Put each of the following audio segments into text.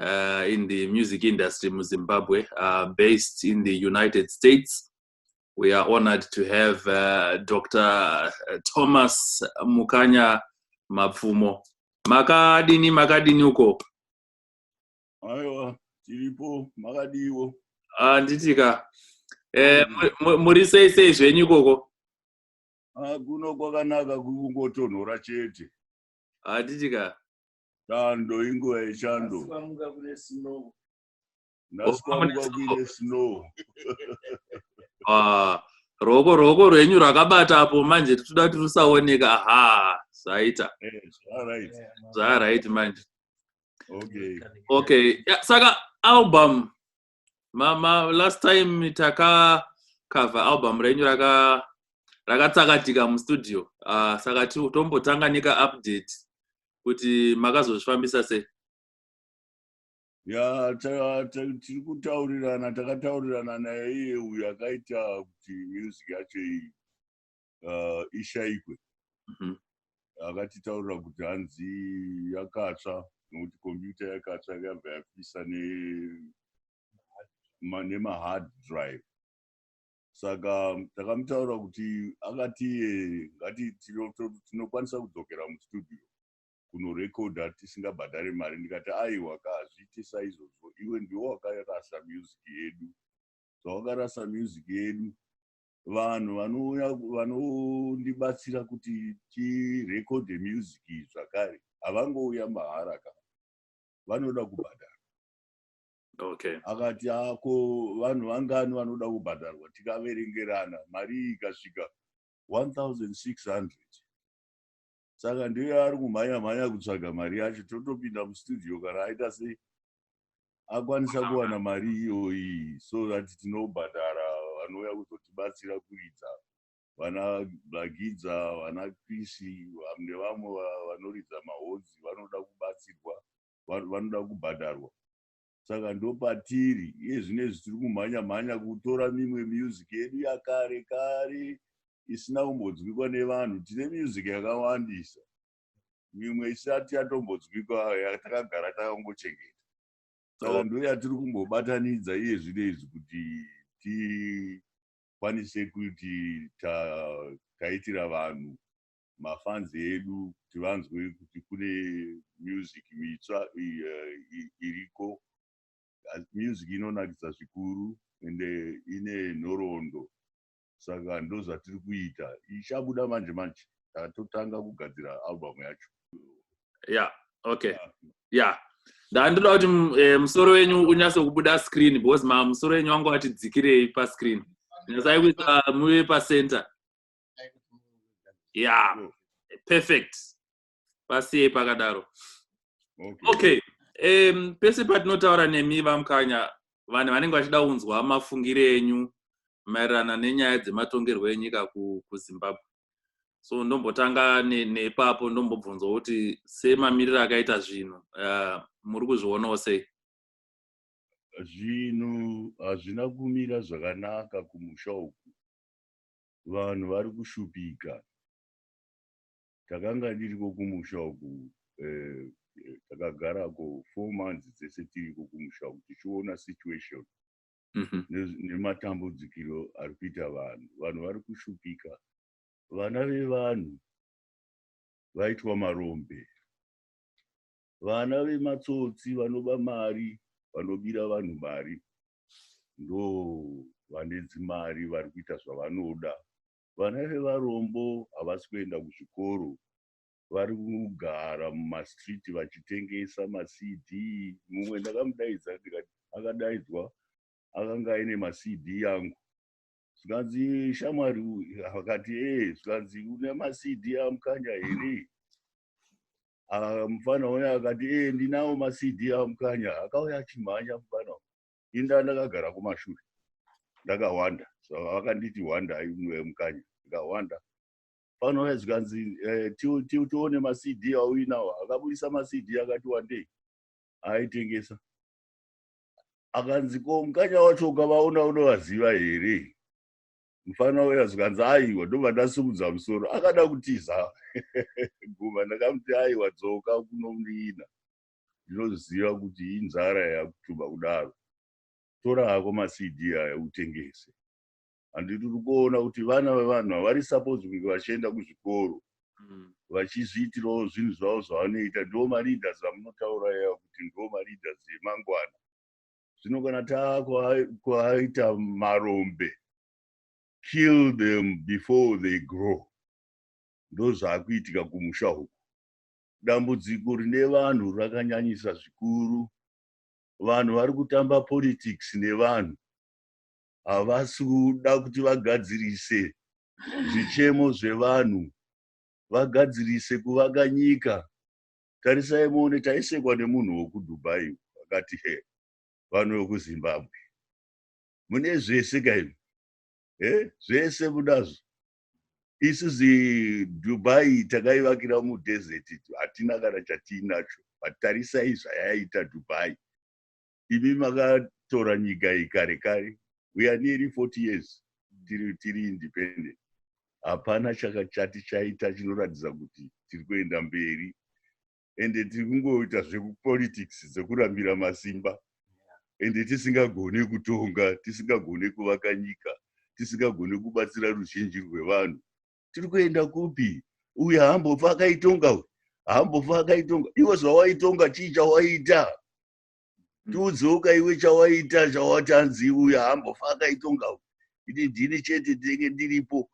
uh, in the music industry in Zimbabwe, uh, based in the United States. We are honored to have uh, Dr. Uh, Thomas Mukanya Mapfumo. Makadini, makadini uko. Aiwa, tiripo, makadiwo. Ah, nditika. Eh, muri sei sei zvenyu ikoko? Ah, kuno kwakanaka kungotonhora chete. Handitika. Ah, Chando inguva yechando. Ndaswamuka kune snow. Ndaswamuka kune snow. Ah, roko roko rwenyu rwakabata apo manje tinoda kuti rusaoneka. Aha, zvaita. Eh, zvaraiti. Yeah, man. Zvaraiti manje. Okay. Okay. Yeah, saka album mama last time taka cover album renyu raka rakatsakatika mustudio uh, saka tombotanga neka update kuti makazozvifambisa sei ya tiri kutaurirana takataurirana naye iye uyo akaita kuti music yacho iyi uh, ishaikwe mhm. akatitaurira kuti hanzi yakatsva nokuti kombiyuta yakatsva yakabva yapisa nemahard drive saka takamutaura kuti akati ngati tinokwanisa kudzokera mustudio kunorekodha tisingabhadhare mari ndikati aiwa ka hazviite saizvozvo iwe ndiwo wakarasa music yedu zvawakarasa music yedu vanhu vanouya vanondibatsira kuti tirekode music zvakare havangouya mahara ka vanoda kubhadhara okay akati ako vanhu vangani vanoda kubhadharwa tikaverengerana mari ikasvika 1600 saka ndiye ari kumhanya mhanya kutsvaga mari yacho totopinda mustudio kana aita sei akwanisa kuwana mari iyoyi so that tinobhadhara vanouya kuzotibatsira kuridza vana blagidza vana krisi vamne vamwe vanoridza mahodzi vanoda kubatsirwa vanoda kubhadharwa saka ndopatiri iye zvinezvi tiri kumhanya mhanya kutora mimwe music yedu yakare kare isina kumbodzwikwa nevanhu tine music yakawandisa mimwe isati yatombodzwikwa yatakagara takangochengeta saka ndo yatiri kumbobatanidza iye zvinezvi kuti tikwanise kuti taitira vanhu mafans edu kuti vanzwe kuti kune music mitsva eh, iriko music inonakidza zvikuru ende ine nhoroondo saka ndozvatiri kuita ichabuda manje manje tatotanga kugadzira album yacho ya okay ah. ya ndandoda kuti eh, musoro wenyu unyase kubuda screen because ma musoro wenyu wangu ati dzikirei pascreen nyasai kuisa muve pacenter yeah perfect pasiyei pakadaro okay um, pese patinotaura nemi vamukanya vanhu vanenge vachida kunzwa mafungire enyu maererano nenyaya dzematongerwo enyika kuzimbabwe so ndombotanga nepapo ndombobvunzwa kuti semamiriro akaita zvinhu uh, muri kuzvionawo sei zvinhu hazvina kumira zvakanaka kumusha uku vanhu vari kushupika takanga ndiriko kumusha uku eh, eh, takagarako four months dzese tiriko kumusha uku tichiona situation mhm. nematambudzikiro ari kuita vanhu vanhu vari kushupika vana vevanhu vaitwa marombe vana vematsotsi vanoba mari vanobira vanhu mari ndo vane dzimari vari kuita zvavanoda vana vevarombo havasi kuenda kuzvikoro vari kugara mumastreet vachitengesa macd mumwe ndakamudaidza ndikati akadaidzwa akanga aine macd yangu zvikanzi shamwari akati ee zvikanzi une macd amukanya here Ah, mufana uya akati ee ndinawo macd amukanya akauya achimhanya mufana uyu. ini ndanga ndakagara kumashure ndakahwanda so vakanditi hwanda imwe mukanya ndikahwanda mufana uya zvikanzi eh, ti- ti- tione macd auinawo akabudisa macd akati wandei aitengesa akanzi ko mukanya wacho ukavaona unovaziva here mufana uya zvikanzi aiwa ndobva ndasimudza musoro akada kutiza guma ndakamuti aiwa dzoka kunondiina ndinoziva kuti inzara yakutuba kudaro tora hako macd aya utengese handiti uri kuona kuti vana vevanhu havari supose kunge vachienda kuzvikoro mm. vachizviitirawo zvinhu zvavo zvavanoita ndiwo maleaders amunotaura yaya kuti ndiwo maleaders emangwana zvino kana takuaita marombe kill them before they grow ndozvakuitika kumusha uku dambudziko rine vanhu rakanyanyisa zvikuru vanhu vari kutamba politics nevanhu havasi kuda kuti vagadzirise zvichemo zvevanhu vagadzirise kuvaka nyika tarisai muone taisekwa nemunhu wekudubai akati he vanhu vekuzimbabwe mune zvese kaimi he zvese munazvo isu zidubai takaivakira mudesert hatina kana chatiinacho vatarisai zvayaita dubai imi makatora nyika iyi kare kare we are nearly 40 years tiri, tiri independent hapana chakachati chaita chinoratidza kuti tiri kuenda mberi ende tiri kungoita zvekupolitics dzekurambira masimba ende tisingagone kutonga tisingagone kuvaka nyika tisingagone kubatsira ruzhinji rwevanhu tiri kuenda kupi uye haambofa akaitonga uyu haambofa akaitonga iwe zvawaitonga chii chawaita tiudzewoka iwe chawaita chawati hanzi uya hambofa akaitonga iti ndini chete ndinenge ndiripo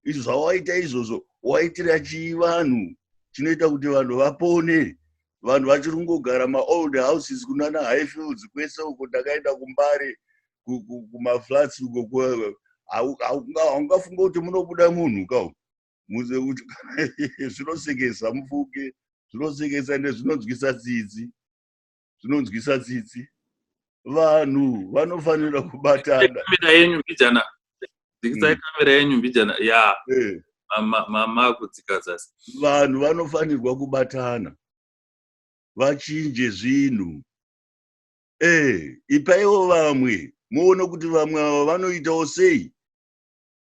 izvo zvawaita izvozvo waitira chii vanhu chinoita kuti vanhu vapone vanhu vachiri kungogara maold houses kunana high fields kwese uko ndakaenda kumbare kumaflats uko haungafunga kuti munobuda munhu ka zvinosekesa mufuke zvinosekesa nezvinonzwisa tsitsi zvinonzwisa tsitsi vanhu vanofanira kubatana kamera yenyu mbijana dzikisai hmm. kamera yenyu mbijana ya eh. mama kudzika zasi vanhu vanofanirwa kubatana vachinje zvinhu ee eh, ipaiwo vamwe muone kuti vamwe ava vanoitawo sei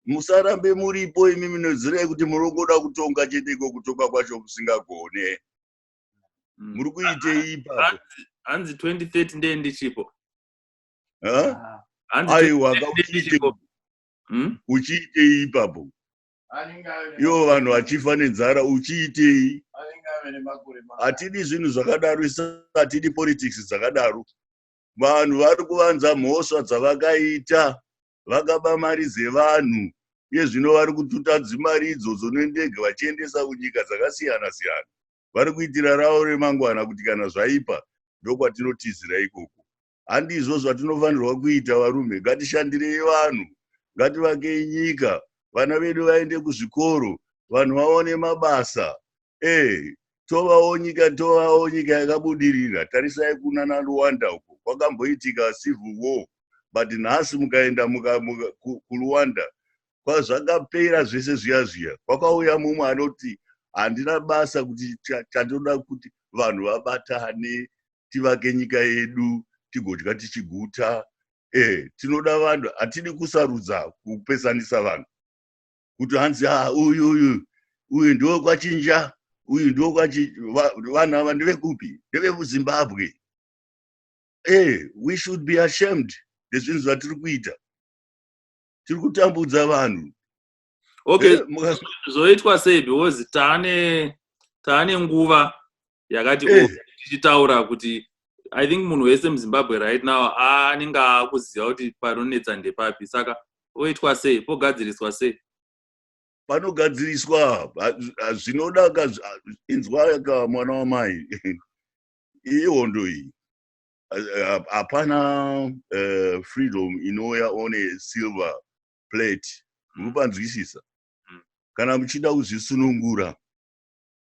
musarambe muripo imi minozirai kuti murongoda kutonga chete iko kutonga kwacho musingagone mm. muri kuitei ipapo hanzi 2030 ndee ndichipo ah. aiwa hmm? uchiitei ipapo ivo vanhu vachifa nenzara uchiitei hatidi zvinhu zvakadaro isatidi politics dzakadaro vanhu vari kuvanza mhosva dzavakaita vakaba mari dzevanhu iye zvino vari kututa dzimari idzodzo nendege vachiendesa kunyika dzakasiyana siyana vari kuitira ravo remangwana kuti kana zvaipa ndokwatinotizira ikoko handizvo zvatinofanirwa kuita varume ngatishandirei vanhu ngativakei nyika vana vedu vaende kuzvikoro vanhu vaone mabasa eh tovawo nyika tovawo nyika yakabudirira tarisai kuna naluwanda uko kwakamboitika civil war but nhasi mukaenda muka, muka, kuluwanda kwazvakapera zvese zviya zviya kwakauya mumwe anoti handina basa kuti chatoda kuti vanhu vabatane tivake nyika yedu tigodya tichiguta e tinoda vanhu hatidi kusarudza kupesanisa vanhu kuti hanzi ah, uyu uyu uyu ndiwo kwachinja uyu ndiwo kwachi vanhu ava ndevekupi ndevekuzimbabwe e eh, we should be ashamed nezvinhu zvatiri kuita tiri kutambudza vanhu okay eh, zvoitwa sei because taane taane nguva yakati eh. oh, tichitaura kuti i think munhu wese muzimbabwe right now anenge akuziva kuti panonetsa ndepapi saka oitwa sei pogadziriswa sei panogadziriswa zvinoda ka inzwa ka mwana wamai ihondo iyi hapana eh, freedom inouya on a silver plate munopanzwisisa mm. kana muchida kuzvisunungura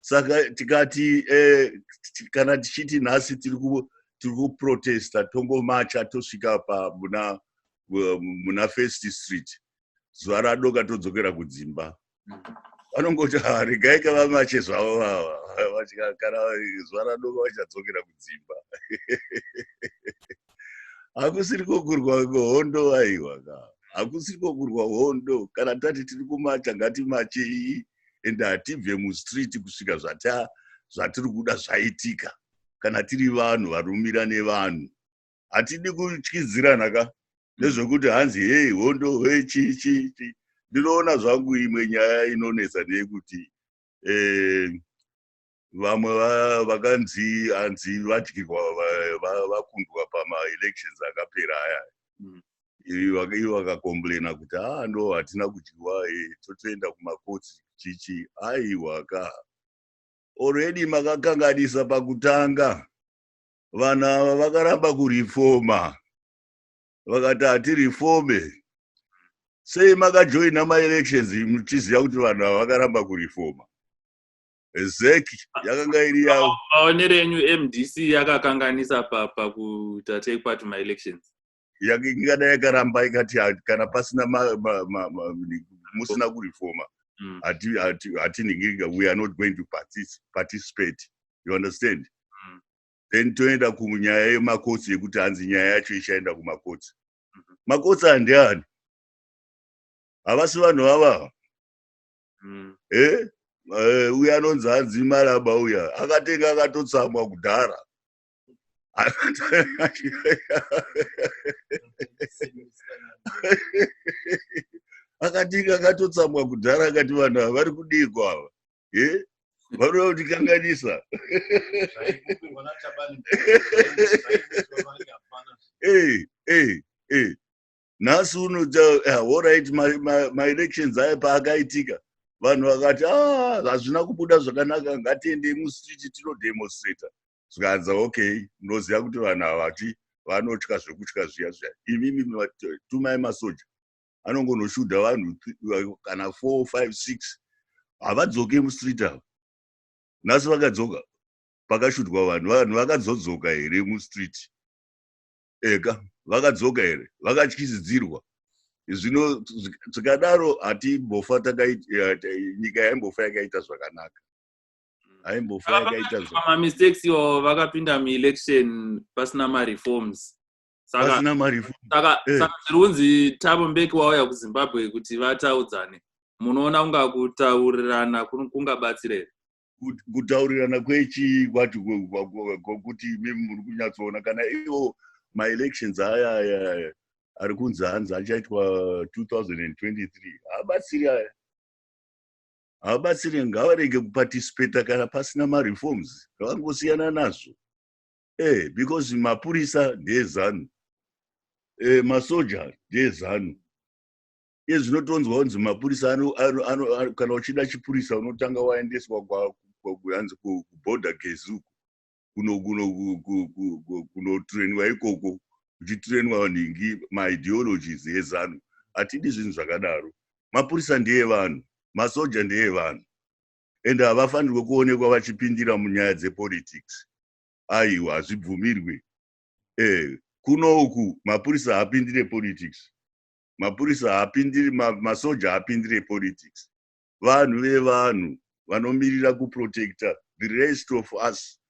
saka tikati eh, kana tichiti nhasi tiri kuprotesta tongomacha tosvika pa muna, eh, muna first street zuva radoka todzokera kudzimba vanongoti ah, regai ka vamache zvavo vava kana zuva radoka vachadzokera kudzimba hakusiri kokurwa hondo aiwa ka hakusiri kokurwa hondo kana tati tiri kumacha ngatimache iyi and hatibve mustreet kusvika zvata zvatiri kuda zvaitika kana tiri vanhu varumira nevanhu hatidi kutyidzirana ka nezvekuti hanzi hei hondo he chii chii chii ndinoona zvangu imwe nyaya inonetsa ndeyekuti um vamwe vakanzi hanzi vadyirwa vakundwa pamaelections akapera aya mm. ivo vakacomplaina kuti haa ndo hatina kudyiwa eh, totoenda kumakotsi chichi aiwa ka already makakanganisa pakutanga vanhu ava vakaramba kurifoma vakati hatirifome sei makajoina maelections muchiziva kuti vanhu ava vakaramba kurifoma exactly yakanga iri yavo maonero enyu mdc yakakanganisa pa pakuita take part ma elections Yaka- ingada yakaramba ikati ha- kana pasina ma- ma- ma- ma- musina kurifoma Mm. hati- hati- hatiningirika we are not going to partic- participate you understand Mm. then toenda kunyaya yemakotsi yekuti hanzi nyaya yacho ichaenda kumakotsi Mhm. makotsi andiani havasi vanhu vavava mm. eh? Eh, uya anonzi hanzi maraba uya akatenga akatotsamwa kudhara akatinga akatotsamwa kudhara akati vanhu ava vari kudiiko ava eh? vanoda kutikanganisa nhasi uno eh, horit maelections aye paakaitika vanhu vakati ah, hazvina kubuda zvakanaka ngatiendei mustreet tinodemonstrata zvikanza okay munoziva kuti vanhu havati vanotya zvekutya zviya zviya imimi tumai masoja anongonoshuda vanhu kana four five six havadzoke mustreet ava nhasi vakadzoka pakashudwa vanhu vanhu vakazodzoka here mustreet eka vakadzoka here vakatyisidzirwa zvino zvikadaro hatimbofa nyika yaimbofa yakaita zvakanaka haimbofa yakaita zvamamistakes iwo vakapinda muelection pasina mareforms sakasaka eh. zviri kunzi tabo mbeki wauya kuzimbabwe kuti vataudzane munoona kunga kutaurirana kungabatsira here kut- kutaurirana kwechii kwati kwe- kwa- kwa- kwakuti imi muri kunyatsoona kana iwo maelections aya aya aya ari kunzi hanzi achaitwa 2023 haabatsiri aya haabatsiri ngavarege kuparticipata kana pasina mareforms ngavangosiyana nazvo eh because mapurisa ndeezanu eh masoja ndeezanu iye zvinotonzwa kunzi mapurisa kana uchida chipurisa unotanga waendeswa hanzi kuborder gezuku kunotrainwa ikoko uchitrainwa nhingi maideologies ezanu hatidi zvinhu zvakadaro mapurisa ndeye vanhu masoja ndeye vanhu and havafanirwe kuonekwa vachipindira munyaya dzepolitics aiwa hazvibvumirwe e eh, kuno uku mapurisa haapindire politics mapurisa haapindiri masoja haapindire politics vanhu vevanhu vanomirira kuprotecta the rest of us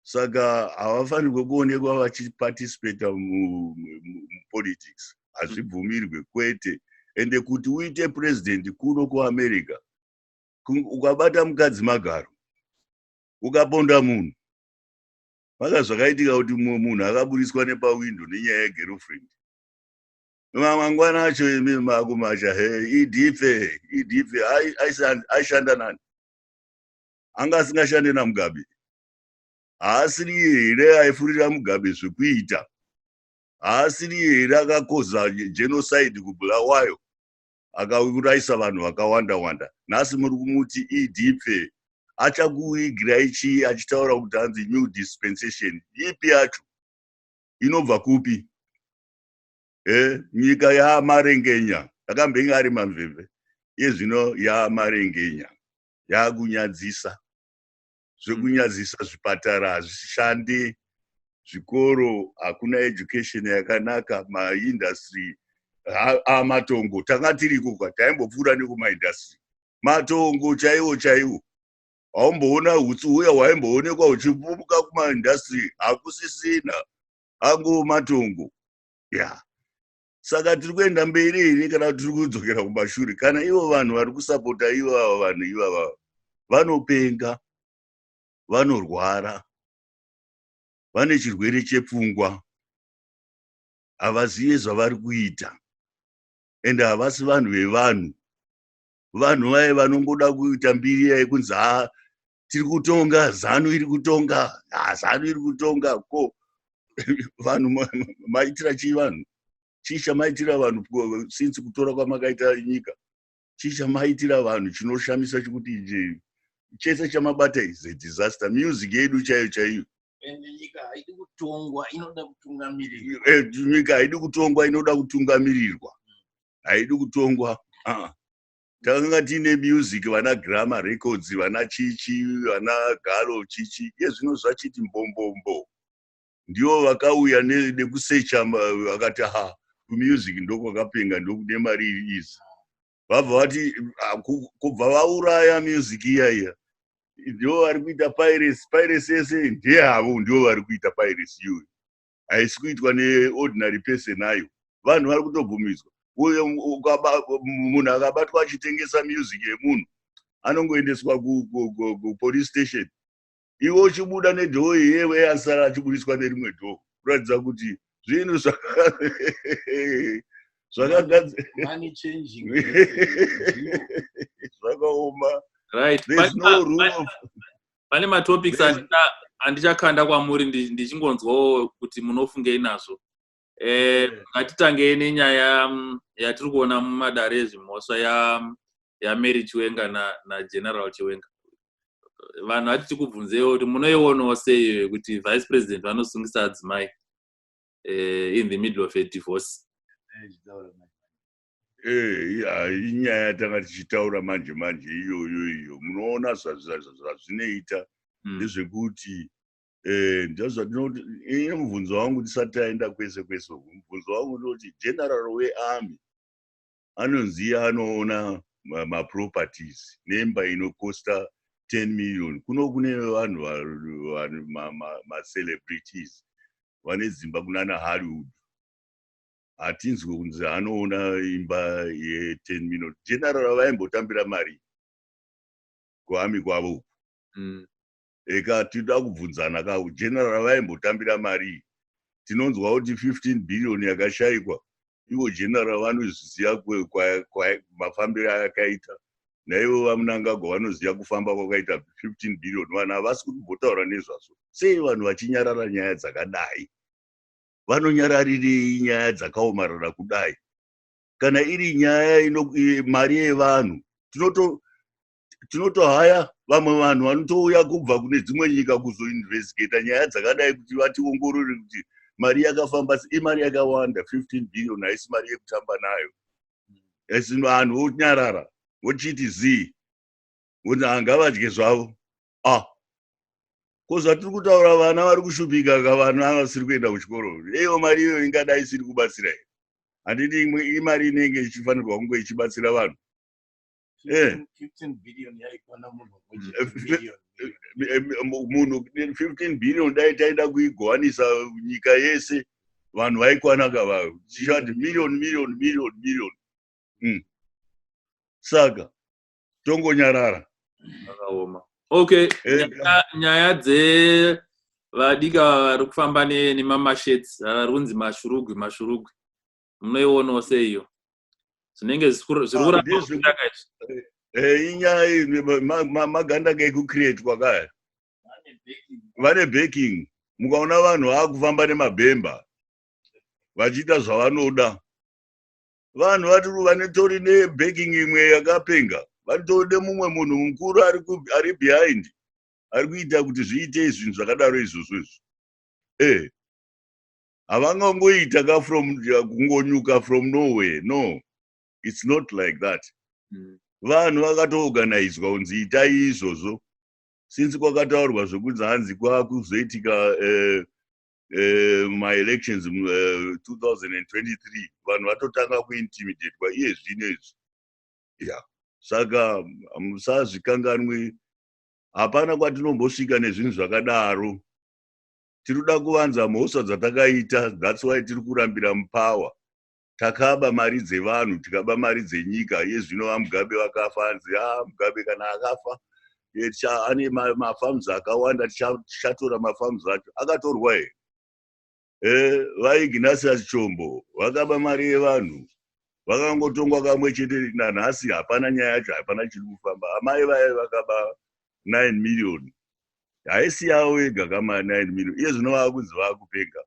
saka havafanirwe kuonekwa vachiparticipata mupolitics hazvibvumirwe kwete ende kuti uite purezidhendi kuno kuamerica ukabata mukadzi magaro ukaponda munhu maka zvakaitika kuti mumwe munhu akaburitswa nepawindo nenyaya yegerofriend mangwana acho imi makumacha he idhife idhife aishanda nani anga asingashande namugabe haasiri here aifurira mugabe zvekuita haasiri here akakoza genocide kubulawayo akaurayisa vanhu vakawanda wanda nhasi muri kumuti idhife achakuigirai chii achitaura kuti hanzi new dispensation ipi yacho inobva kupi e nyika yaamarengenya akambenge ari mamveve iye zvino yaamarengenya yaakunyadzisa zvekunyadzisa zvipatara hazvishandi zvikoro hakuna education yakanaka maindustry amatongo tanga tiriko ka taimbopfuura nekumaindustry matongo chaiwo chaiwo haumboona hutsi huya hwaimboonekwa huchipupuka kumaindastry hakusisina angu matongo ya yeah saka tiri kuenda mberi here kana kuti tiri kudzokera kumashure kana ivo vanhu vari kusapota ivava vanhu ivava vanopenga vanorwara vane chirwere chepfungwa havazive zvavari kuita ende havasi vanhu vevanhu vanhu vaye vanongoda kuita mbiri yaye kunzi ha tiri kutonga zanu iri kutonga ha zanu iri kutonga ko vanhu maitira chii vanhu chii chamaitira vanhu since kutora kwamakaita nyika chii chamaitira vanhu chinoshamisa chekuti ichi chese chamabata is a disaster music yedu chaiyo chaiyo nyika haidi kutongwa inoda kutungamirirwa eh, nyika haidi kutongwa inoda kutungamirirwa haidi kutongwa uh-uh. takanga tiine music vana grama records vana chichi vana galo chichi iye zvino zvachiti mbombombo ndivo vakauya nekusecha vakati ha kumusic ndokwakapenga ndokude mari iri izi vabva vati ah, kubva vauraya music iya iya ndivo vari kuita piracy piracy yese ndeyavo ndivo vari kuita piracy iyoyo haisi kuitwa neordinary person ayo vanhu vari kutobvumidzwa munhu akabatwa achitengesa music yemunhu anongoendeswa kupolice station iwe uchibuda nedhoo iyewe asara achibudiswa nerimwe dhoo kuratidza kuti zvinhu zvakagadzirwa zvakaoma pane matopics andichakanda kwamuri ndichingonzwawo kuti munofungei nazvo eh, eh. ngatitangei nenyaya mm, yatiri kuona mumadare ezvimhosva mm, yamary chiwenga nageneral chiwenga vanhu vati tikubvunzewo kuti munoionawo sei kuti vice president vanosungisa adzimai eh, in the middle of a divorce eh, inyaya yatanga tichitaura manje manje iyoyo iyo munoona zvazvinoita hmm. ndezvekuti eh, ndozvandinoti ini mubvunzo wangu tisati taenda kwese kwese uku mubvunzo wangu ndinoti general wearmy anonzi iye anoona maproperties nemba inokosta 10 million kuno kune vanhu macelebrities vane dzimba kunana hollywood hatinzwe kunzi anoona imba ye10 million general vaimbotambira mari kuami kwavo uku mm. eka tinoda kubvunzana ka general vaimbotambira mari tinonzwa kuti 15 billion yakashaikwa ivo general vanozviziva mafambiro ayakaita naivo vamunangagwa vanoziva kufamba kwakaita 15 billion vanhu havasi kutombotaura nezvazvo sei vanhu vachinyarara nyaya dzakadai vanonyararirei nyaya dzakaomarara kudai kana iri nyaya ino mari yevanhu tinoto tinotohaya vamwe vanhu vanotouya kubva kune dzimwe nyika kuzoinvestigata nyaya dzakadai kuti vationgorore kuti mari yakafamba imari yakawanda 15 billion haisi mari yekutamba nayo asi vanhu vonyarara vochiti zii voti hangavadye zvavo ah ko zvatiri kutaura vana vari kushupika ka vana vasiri kuenda kuchikoro eiwo mari iyoyo ingadai isiri kubatsira here handiti imwe imari inenge ichifanirwa kunge ichibatsira vanhu eh. munhu 15 billion dai taida kuigowanisa nyika yese vanhu vaikwana ka vavo tichati million million million million hmm. saka tongonyarara akaoma okay eh, nyaya dze vadika vari kufamba nemamashets vari kunzi mashurugwi mashurugwi munoionawo seiyo zvinenge zviri ah, kuraaaka izvi eh, eh, inyaya maganda kekucreatwa kaya vane baking mukaona vanhu vaakufamba nemabhemba vachiita zvavanoda vanhu vari vanitori nebaking imwe yakapenga vanitode mumwe munhu mukuru ari behind ari kuita kuti zviite izvinhu zvakadaro izvozvo izvo e eh, havangangoita ka from kungonyuka from nowhere no its not like that mm. vanhu vakatoorganizwa kunzi itai izvozvo since kwakataurwa zvekunzi hanzi kwakuzoitika eh, eh, maelections uh, eh, 2023 vanhu vatotanga kuintimidatwa iye zvino izvi ya saka musazvikanganwi hapana kwatinombosvika nezvinhu zvakadaro tiri kuda kuvanza mhosva dzatakaita thats why tiri kurambira mupower takaba mari dzevanhu tikaba mari dzenyika yezvino vamugabe vakafa anzi a ah, mugabe kana akafa eh, ane mafarms akawanda tichatora mafarms acho akatorwa here eh, vaignasius chombo vakaba mari yevanhu vakangotongwa kamwe chete nanhasi hapana nyaya yacho hapana chiri kufamba amai vaye vakaba 9 million haisi yavo yega kama 9 million iye zvino vava kunzi vava kupenga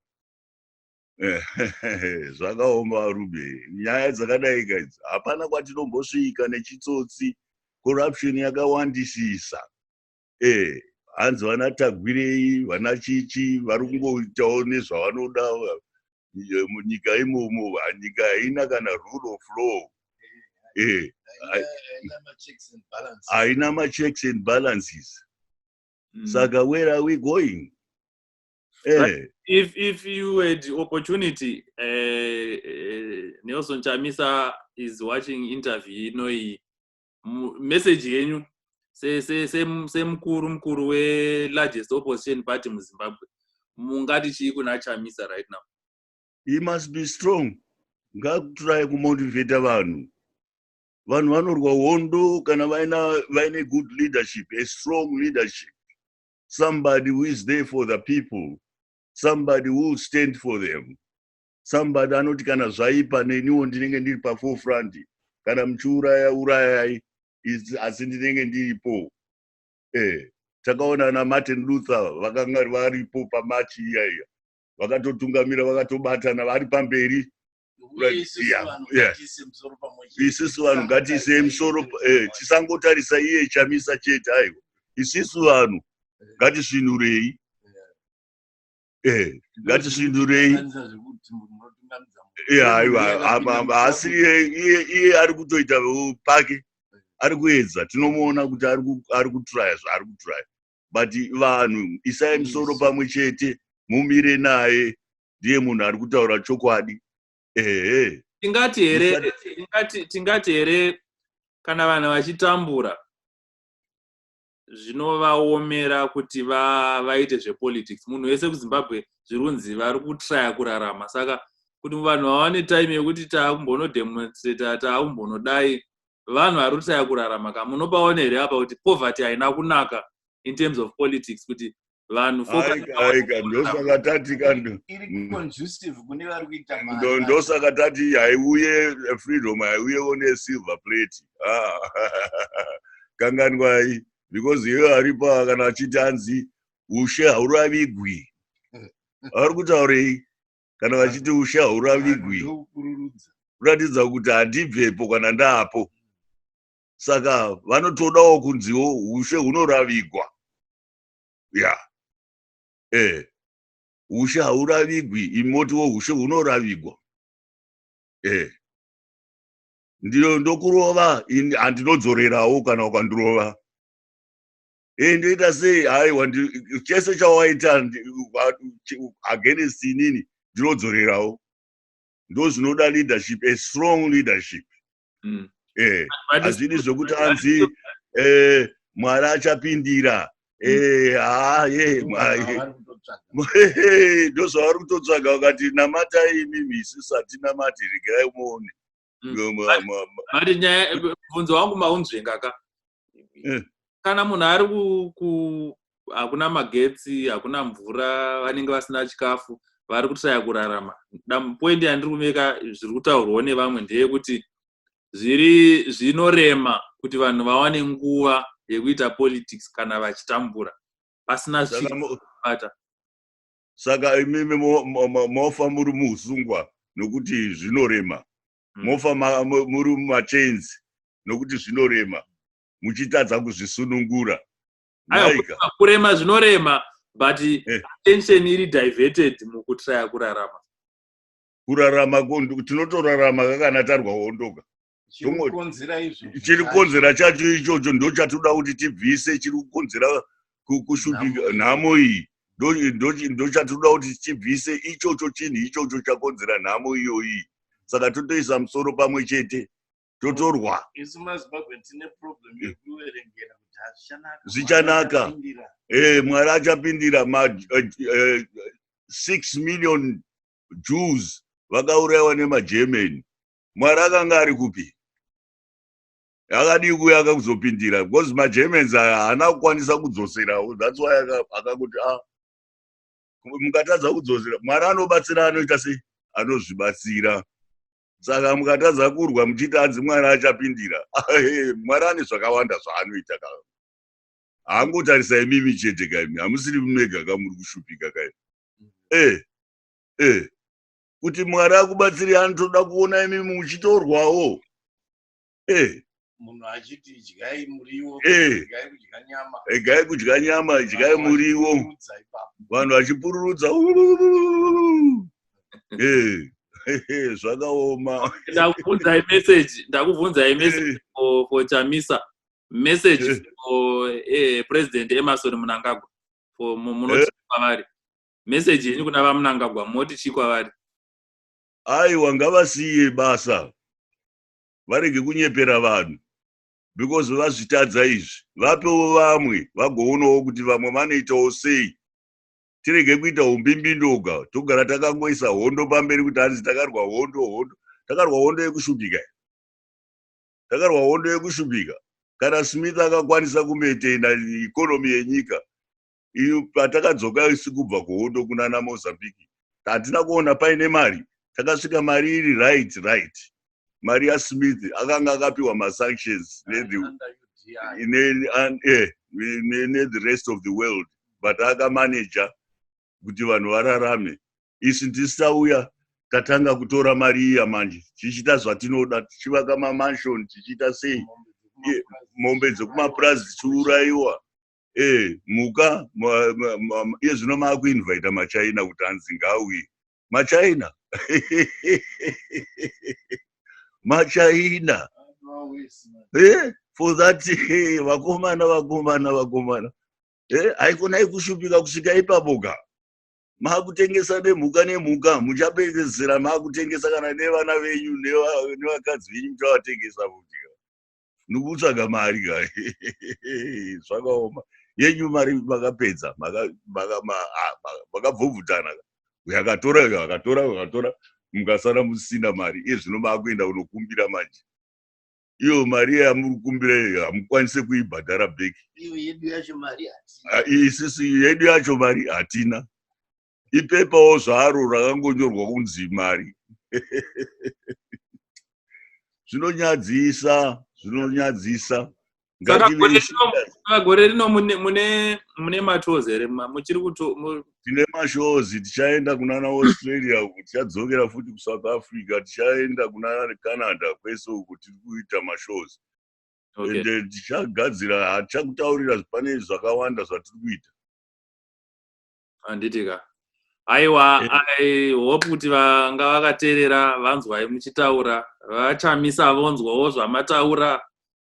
zvakaoma varube nyaya dzakadai kaidzi hapana kwatinombosvika nechitsotsi corruption yakawandisisa e hanzi vana tagwirei vana chichi vari kungoitawo nezvavanoda munyika imomo nyika haina kana rule of law e haina machecks and balances hmm. saka where are we going Eh. If, if you had opportunity, uh, uh, Nelson Chamisa is watching interview inoi message yenyu semukuru mukuru welargest opposition party muzimbabwe mungati chii kuna chamisa right now he must be strong ngakuturaye kumotivate vanhu vanhu vanorwa hondo kana vaine good leadership a strong leadership somebody who is there for the people somebody who will stand for them somebody anoti kana zvaipa neniwo ndinenge ndiri paforefront kana muchiuraya urayai asi ndinenge ndiripo eh takaona na martin luther vakanga varipo pamachi iya iya vakatotungamira vakatobatana vari pamberi Like, Isu yeah, vanhu yeah. ngatiise musoro pamwe chete. isisu vanhu ngatiisei musoro pa- eh, tisangotarisa iye chamisa chete aiwa isisu vanhu ngatisvinurei eh, ngatisvinurei Kukanganisa zvekuti munhu unotungamidza munhu. Eh, aiwa Iye apa akapinda apa asi musaku- iye iye iye ari kutoita uh, pake ari kuedza tinomuona kuti ari ku- ari kutraya zvaari kutraya but vanhu isai musoro pamwe chete mumire naye ndiye munhu ari kutaura chokwadi ehe tingati here tingati here kana vanhu vachitambura zvinovaomera kuti vaite va zvepolitics munhu wese kuzimbabwe zviri kunzi vari kutraya kurarama saka kuti vanhu vawane time yekuti taakumbonodemonstrata taakumbonodai vanhu vari kutaya kurarama ka munopaona here apa kuti poverty haina kunaka in terms of politics kuti vanhu ndosaka tati ndosaka tati haiuye freedom haiuyewo nesilver plate ah. kanganwai because iyoyo aripa kana achiti anzi ushe hauravigwi ari kutaurei kana vachiti ushe hauravigwi ndokukururudza kuratidza kuti handibvepo kana ndaapo saka vanotodawo kunziwo ushe hunoravigwa ya eh ushe hauravigwi imotiwo ushe hunoravigwa eh ndiyo ndokurova ini handinodzorerawo kana ukandirova hey, eh, ndoita sei haiwa chese chawaita against inini ndinodzorerawo ndo zvinoda leadership a strong leadership mm. eh, hazvidi mm. eh, zvekuti anzi eh, mwari achapindira mm. eh, haa ye ndozvavari kutotsvaga vakati namatai imimi isisatinamati regerai muone Mm. but nyaya bvunzo wangu maunzvenga ka eh. kana munhu ari ku hakuna magetsi hakuna mvura vanenge vasina chikafu vari kutaya kurarama poindi yandiri kumeka zviri kutaurwawo nevamwe ndeyekuti zviri zvinorema kuti vanhu vawane nguva yekuita politics kana vachitambura pasina zviata saka imimi mofa muri muusungwa nokuti zvinorema hmm. mofa muri mumachains nokuti zvinorema muchitadza kuzvisunungura kurema zvinorema but eh. attention iri diverted mukutraya kurarama kurarama tinotorarama kakana tarwa hondoka chiri kukonzera chacho ichocho ndo chatoda kuti tibvise chiri kukonzera kushupika nhamo iyi ndo chatoda kuti tibvise ichocho chinhu ichocho chakonzera nhamo iyoyi saka totoisa musoro pamwe chete totorwa zvichanaka eh, mwari achapindira ma eh, eh, six million jews vakaurayiwa nemagermany mwari akanga ari kupi akadii kuya akakuzopindira because magermans aya haana kukwanisa kudzoserawo thats why akakuti a ah, mukatadza kudzosera mwari anobatsira anoita sei anozvibatsira saka mukatadza kurwa muchiti anzi mwari achapindira mwari ane zvakawanda zvaanoita ka haangotarisa imimi chete kaimi hamusiri mega kamuri kushupika kaimi e e kuti mwari akubatsiri anotoda kuona imi muchitorwawo eh. munhu achiti idyai muriwo eh. idyai kudya nyama idyai kudya nyama idyai muriwo vanhu vachipururudza eh. zvakaoma ndakubvunzai message ndakubvunzai message for chamisa message for president emerson munangagwa for munoti kwavari message yenyu kuna vamunangagwa moti chii kwavari aiwa ngavasiye basa varege kunyepera vanhu because vazvitadza izvi vapewo vamwe vagoonawo kuti vamwe vanoitawo sei tirege kuita umbimbindoga togara takangoisa hondo pamberi kuti hanzi takarwa hondo hondo takarwa hondo yekushupika takarwa hondo yekushupika kana smith akakwanisa kumaintaina ikonomi yenyika patakadzoka isi kubva kuhondo kunana mozambique hatina kuona paine mari takasvika mari iri right right mari yasmith akanga akapiwa masanctions eh, nethe rest of the world but akamanaja kuti vanhu vararame isi ndisauya tatanga kutora mari iya manje tichiita zvatinoda tichivaka mamanshon tichiita sei mombe dzekumapurazi dzichiurayiwa eh, muka iye zvino maakuinvaita machina kuti anzi ngauye machina machina eh, for that eh, vakomana vakomana vakomana eh, haikonai kushupika kusvika ipapoka maakutengesa nemhuka nemhuka muchapedzesera maakutengesa kana nevana venyu nevakadzi venyu muchavatengesa futi nikutsvaga mari ka zvakaoma yenyu mari makapedza makabvobvutana ah, uyo akatora uyo akatora uyo akatora mukasara musina mari iye zvino maakuenda unokumbira manje iyo mari yamuri kumbira iyo hamukwanise kuibhadhara beki ah, isisu yedu yacho mari hatina ipepawo zvaro rakangonyorwa kunzi mari zvinonyadzisa zvinonyadzisa gore rino mune mashows here muchiri kuto tine mashows tichaenda kunana australia uku tichadzokera futi kusouth africa tichaenda kunana canada kwese uku tiri kuita mashows ende eh, tichagadzira hatichakutaurira pane zvakawanda zvatiri kuita handiti ka aiwa i hope kuti vanga vakateerera vanzwai muchitaura vachamisa vonzwawo zvamataura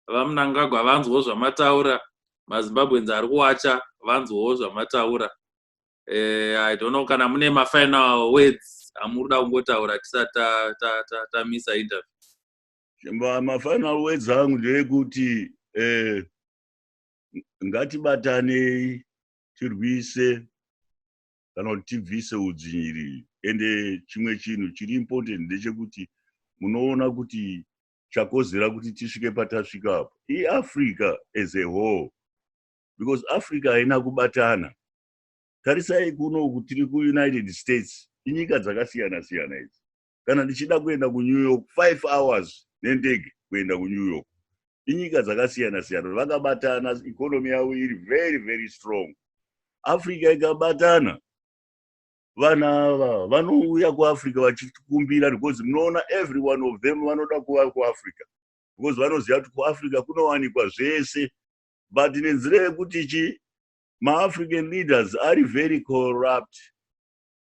vamunangagwa vanzwawo zvamataura mazimbabweans ari kuwacha vanzwawo zvamataura eh, i don't know kana mune mafinal words amuri da kungotaura tisati tamisa interview mafinal words angu ndeekuti eh, ngatibatanei tirwise kana kuti tibvise udzvinyiriri ende chimwe chinhu chiri important ndechekuti munoona kuti chakozera kuti tisvike patasvika apo iafrica as a whole because africa haina kubatana tarisai kuno kutiri kuunited states inyika dzakasiyana siyana idzi kana ndichida kuenda kunew york five hours nendege kuenda kunew york inyika dzakasiyana siyana vakabatana economy yavo iri very very strong africa ikabatana vana ava vanouya kuafrica vachikumbira because munoona every one of them vanoda kuva kuafrica because vanoziva kuti kuafrica kunowanikwa zvese but nenzira yekuti chi maafrican leaders ari very corrupt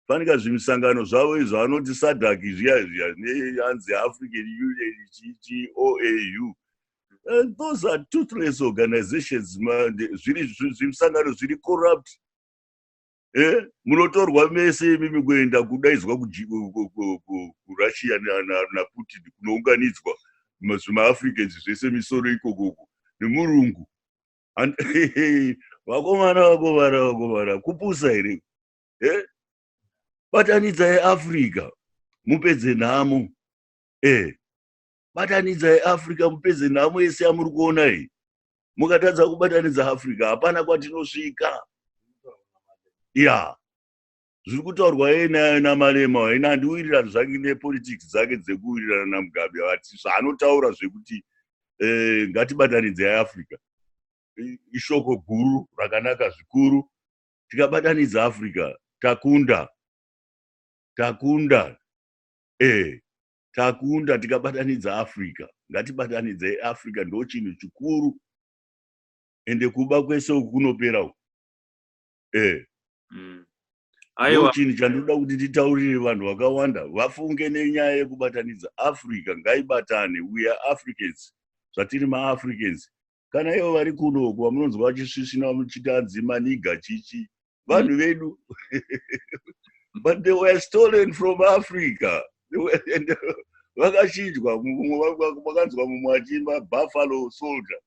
fanika zvimisangano zvavo izvo anoti sadak zviya zviya neanzi african union chichi oau eh, those are toothless organizations zvimisangano zviri corrupt eh, munotorwa mese imi mikuenda kudaidzwa kurussia naputin kunounganidzwa zvimaafricans zvese misoro ikokoko nemurungu vakomana vakomana vakomana kupusa here eh? batanidza yeafrica mupedze nhamo eh. batanidza yeafrica mupedze nhamo yese yamuri kuona iyi mukatadza kubatanidza africa hapana kwatinosvika ya zviri kutaurwa yeye nayo namalema waina handiwirirani zvange nepolitics dzake dzekuwirirana namugabe vati zvaanotaura zvekuti eh, ngatibatanidze yeafrica ishoko guru rakanaka zvikuru tikabatanidza africa takunda takunda e takunda tikabatanidza africa ngatibatanidze africa ndo chinhu chikuru ende kuba kwese uku kunopera uku e mm. aiwa chini chandoda kuti titaurire vanhu vakawanda vafunge nenyaya yekubatanidza africa ngaibatane we are africans zvatiri maafricans kana ivo vari kuno uko vamunonzwa vachisvisvina vamuchiti anzi maniga chichi vanhu vedu but they were stolen from africa vakachinjwa vakanzwa mumwe achiimba buffalo soldier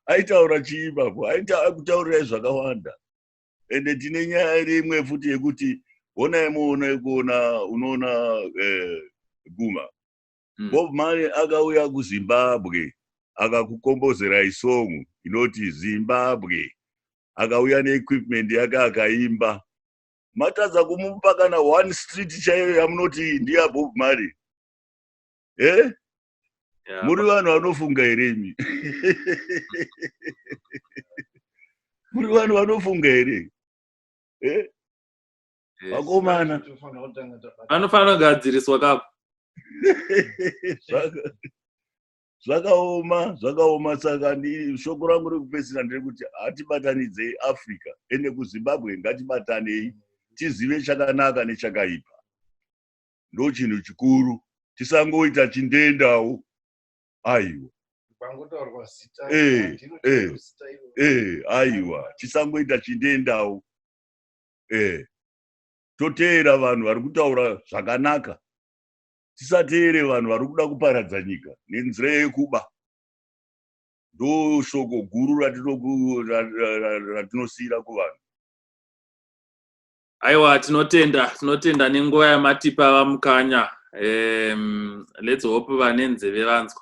aitaura chii ipapo aitaurira zvakawanda ende tine nyaya rimwe futi yekuti honai muona ikuona unoona eh, guma mm. bob mali akauya kuzimbabwe akakukombozerai song inoti zimbabwe akauya neequipment yake akaimba matadza kumupa kana one street chaiyo yamunoti ndiya bob mali e eh? yeah, muri vanhu vanofunga here imi muri vanhu vanofunga here e eh? vakomana vanofanira kugadziriswa kapo zvakaoma zvakaoma saka shoko rangu rekupedzisira ndiri kuti hatibatanidzei africa ende kuzimbabwe ngatibatanei tizive chakanaka nechakaipa ndo chinhu chikuru tisangoita chindendawo aiwa eh, eh, eh, aiwa tisangoita chindendawo eh toteera vanhu vari kutaura zvakanaka tisateere vanhu vari kuda kuparadza nyika nenzira yekuba ndoshoko guru ratinosiyira kuvanhu aiwa tinotenda tinotenda nenguva yamatipa vamukanya um, let's hope vane nzeve vanzwa